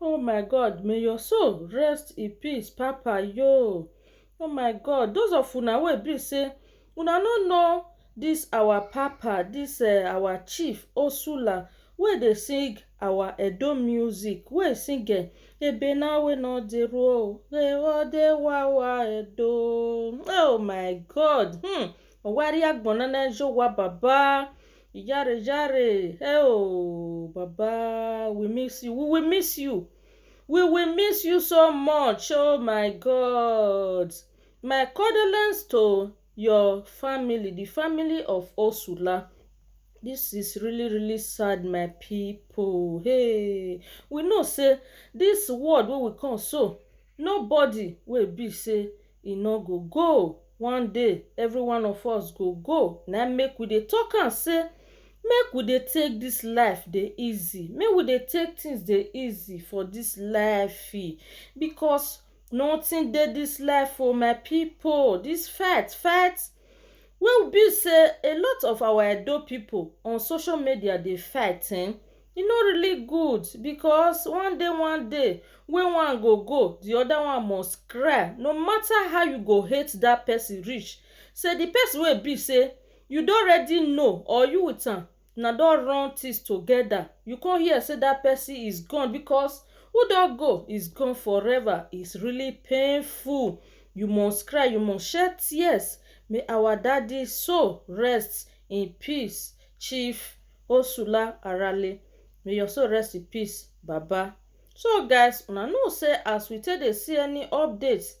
Oh my God, may your soul rest in peace, Papa yo. Oh my God, those of una wey be say una no know this our Papa, this uh, our chief Osula wey dey sing our Edo music, wey sing uh, ebe na we no dey roll, dey wa dey wa wa Edo. Oh my God, hmm. Owari agbonana ejo wa baba. Ijare jare hey oh baba we miss you we will miss you we will miss you so much oh my God my condolence to your family the family of Osula this is really really sad my people hey we know say this world wey we come so Nobody wey be say e no go go one day every one of us go go na im make we dey talk am say make we dey take this life dey easy make we dey take things dey easy for this life because nothing dey this life o my people this fight fight wey be say a lot of our edo people on social media dey fight ehn e no really good because one day one day wey one go go the other one must cry no matter how you go hate that person reach say the person wey be say you don already know or you with am una don run things together you come hear say that person is gone because who don go is gone forever is really painful you must cry you must shed tears may our daddy soul rest in peace chief Osula Arale may your soul rest in peace baba. So guys una know say as we take dey see any updates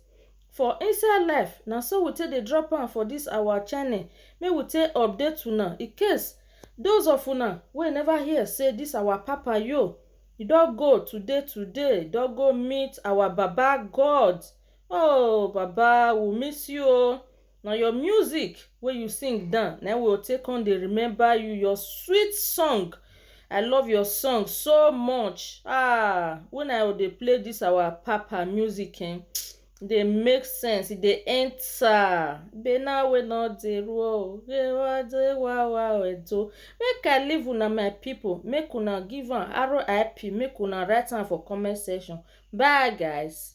for inside life na so we take dey drop am for this our channel make we take update una in case those of una wey never hear say this our papa yo e don go today today e don go meet our baba God oh baba we miss you oh. Na your music wey you sing down na im we go take come dey remember you, your sweet song I love your song so much ah when I dey play this our papa music um e dey make sense e dey enter bena wey no dey rule o dey wawa edo make I leave una my people make una give am RIP make una write am for comment section bye guys.